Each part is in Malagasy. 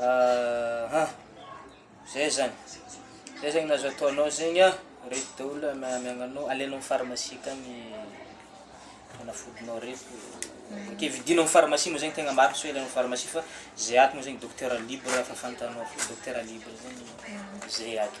Aha, zay zany, zay zegny azo ataonao zegny an, reto daholo amiagnanao, alenao am pharmacie akagny fanafodinao reto, ok vidinao am pharmacie moa zegny tegna marigny sao ianao am pharmacie fa zay ato moa zegny docteur libre fa fantanao fô docteur libre zegny zay ato.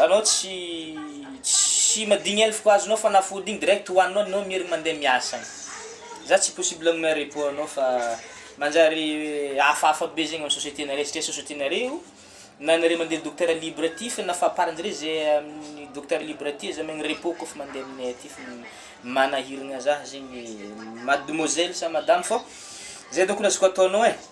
Anao tsy tsy madigny elfko azonao fanafody igny direct hoaninao anao mierigny mandeha miasa agny za tsy possible agnome repos anao fa manjary hafahafa be zegny am société nareo satria société nareo na anareo mandeha docteur libre aty fa na fahaparanjareo ze amin'ny docteur libre aty aza amegny repos kôfa mandeha aminay aty fa manahiragna za zegny mademoiselle sa madame fô zay dônko no azoko ataonao e.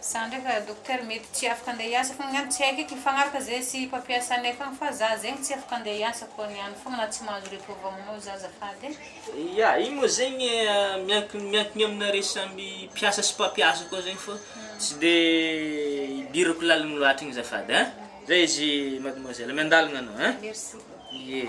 Za ndraika docteur mety tsy afaka andeha hiasa fogna ny any tsy haiko eky mifagnaraka ze sy mpampiasa anay fogna fa za zegny tsy afaka andeha hiasa ko ny any fogna na tsy mahazo repos avy aminao za azafady e. Ya, iny moa zegny miankina miankigna aminareo samy mpiasa sy mpampiasa koa zegny fô tsy de idirako laligny loatra igny azafady a! Zay izy mademoiselle, miandalagna anao a! Merci. Ye.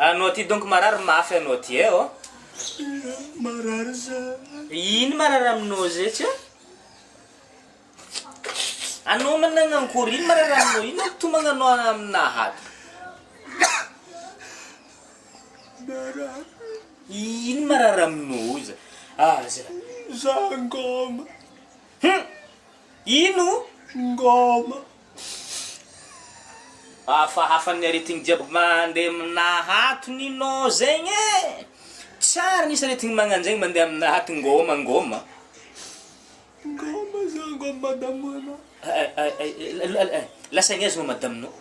Anao ty donc marary mafy anao ty eh oh. Marary za. Ino marary aminao zay tsy? Anao manana ankory ino marary aminao ino tomagna anao amina hato. Marary. Ino marary aminao za? Ah za. Za ngoma. Hum! Ino? Ngoma! Hafahafa ny aretigny jiaby mande amina hato ny no zegny e! Tsara nisy aretigny magnanjegny mande amina hato ngoma ngoma! Ngoma za ngoma madamo ana. Lasa aignaiza moa madame nao?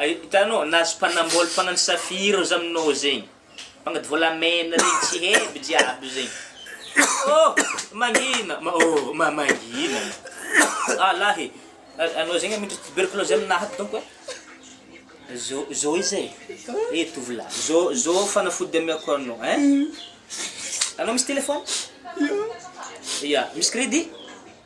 Hitanao na spanambol mpagnano safira oza aminao zegny mpagnady volamena regny tsy hevy jiaby zegny oh mangina ma oh ma mangina ah lahy e A- anao zegny miditry tuberculose aminaha donc e zo zo izy e e tovolahy zo zo fanafody amiako anao ein anao misy telephone ya misy crédit